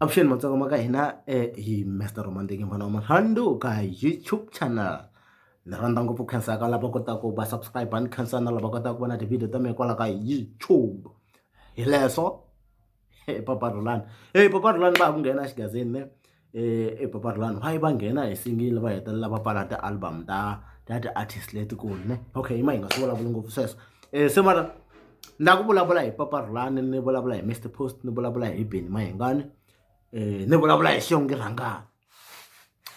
avuxeni matsonga ma ka hina hi Mister Rhumandini n'wana wa Marhandu ka YouTube channel ni rhandza ngopfu khensa ka lava kotaka ku va subscribe ni khensa na lava kotaka ku vona ti-video ta mina kwala ka YouTube hi leswo papa Rhulani e papa Rhulani va ha ku nghena exigazini ne ePaparilani va yi va nghena hi singili va hetelela va pfala ti-album ta ta ti-artist letikulu ne okay yima hi nga swi vulavuli ngopfu sweswo se mara na ku vulavula hi Paparilani ni vulavula hi Mister Post ni vulavula hi Benny Mayengani ni vulavula hi Xiongi Rhangani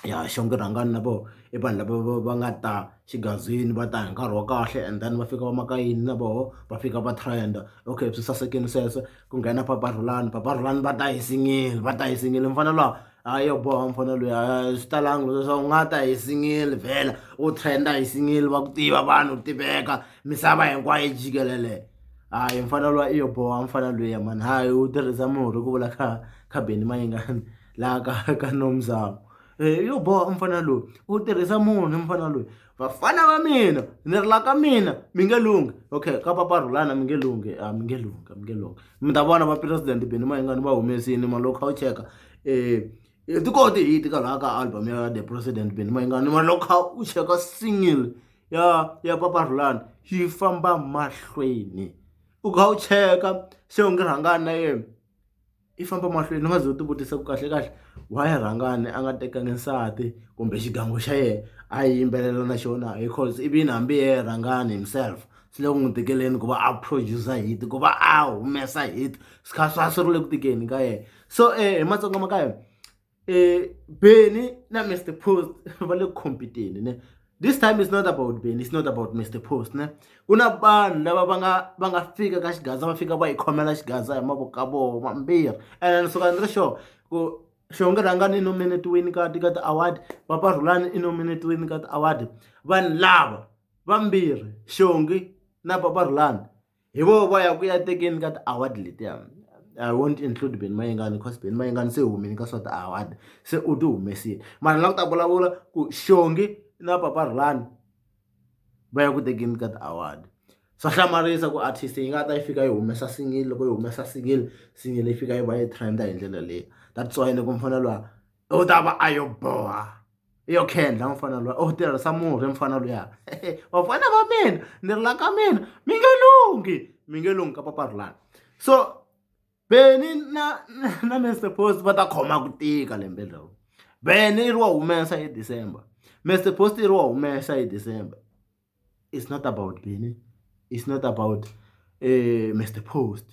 ya Xiongi Rhangani na voho i vanhu lava va va nga ta xigazini va ta hi nkarhi wa kahle and then va fika va maka yini na voho va fika va trend okay swi sasekile sweswo. ku nghena papa Rhulani papa Rhulani va ta hi singili va ta hi singili mufana luwa a yo boha mufana luya swi talanga leswaku u nga ta hi singili vhela u trenda hi singili va ku tiva vanhu tiveka misava hinkwayo yi jikelele hayi mufana luwa i yo boha mufana luya mani hayi u tirhisa murhi ku vula kha kha Benny Mayengani laha ka ka Nomzamo yo boha mufana loyi u tirhisa munhu mufana loyi. vafana va mina ni ri la ka mina mi nge lunghi okay ka papa rhulana mi nge lunghi a mi nge lunghi a mi nge lunghi mi ta vona va president beni mayingani va humesini malokha u cheka um hi ti koti hi ti ka laha ka album ya the president beni mayingani malokha u cheka single ya ya papa rhulana yi famba mahlweni u kha u cheka se u nge rhangani na yena i famba mahlweni ni nga ze u ti vutisa ku kahle kahle why rhangani a nga tekangi nsati kumbe xigangu xa yena a yimbelela na xona hi course ivi yini hambi hi yena rhangani himself swi le ku n'wi tikeleni ku va a producer hit ku va a humesa hit swi kha swa swi ri le ku tikeni ka yena so hi matsonga ma ka hina. eh Benny na Mr Post va le competeni ne this time is not about Benny it's not about Mr Post ne ku na vanhu lava va nga va nga fika ka xigaza va fika va yi khomela xigaza hi mavoko ka vona mambirhi and ni suka ni ri sure ku xonge rhangani i nominetiwini ka ti ka ti-award papa rhulani i nominetiwini ka ti-award vanhu lava vambirhi xongi na papa rhulani. hi voho va ya ku ya tekeni ka ti-award letiya I won't include Benny Mayengani because Benny Mayengani se humile ka swa ti-award se u ti humesile mara la ku ta vulavula ku Xongi na Papa Rhulani va ya ku tekeni ka ti-award swa hlamarisa ku artist yi nga ta yi fika yi humesa single loko yi humesa single single yi fika yi va yi trend hi ndlela leyi that's why ni ku mfanelo u ta va a yo boha. i yo khendla mufana luya u tirhisa murhi mufana luya vafana va mina ni ri la ka mina mi nge lunghi mi nge lunghi ka papa rulani so beni na na mister post va ta khoma ku tika lembe leri beni i ri wa humesa hi december mister post i ri wa humesa hi december it's not about beni it's not about mister post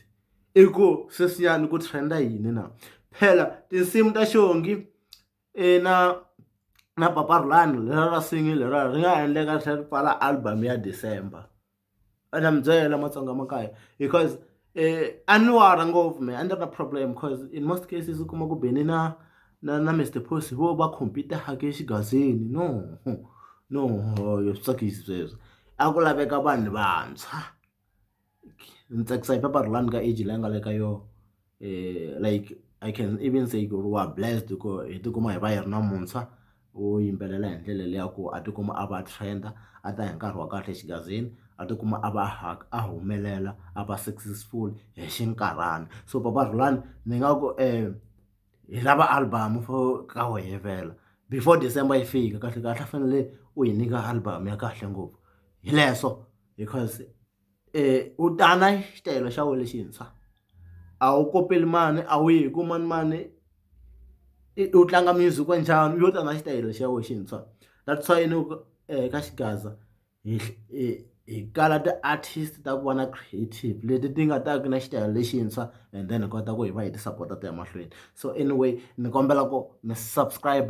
i ku sweswiyani ku trend-a yini na phela tinsimu ta xongi i na na papa Rhulani leriya ra nsimu leriya ri nga ha endleka ri tlhela ri pfala album ya December a na mi byela matsonga ma ka hina because a ni wari ngopfu mehe a ni ri na problem coz in most cases u kuma ku beni na na na Mister Post hi vona va compete-aka xigazini no no swi tsakisi sweswo a ku laveka vanhu vantshwa. ni tsakisa hi paper lani ka age leyi nga le ka yona like I can even say ku ri wa blessed ku hi tikuma hi va hi ri na muntshwa wo yimbelela hi ndlela leyi ya ku a tikuma a va a trend a ta hi nkarhi wa kahle xigazini a tikuma a va a humelela a va successful hi xinkarhana so papa Rhulani ni nga ku hi lava album for ka wehe vhela before December yi fika kahlekahle a fanele u hi nyika album ya kahle ngopfu hi leswo. because u ta na xitayele xa wena lexintshwa a wu kopeli mani a wu yi hi ku manimani i u tlanga music wa njhani u lo ta na xitayele xa wena xintshwa that's why ni ku eka xigaza hi hi kala ti-artist ta ku va na creative leti ti nga ta ka na xitayele lexintshwa and then hi kota ku hi va hi ti sapota ti ya mahlweni so anyway ni kombela ku mi subscribe.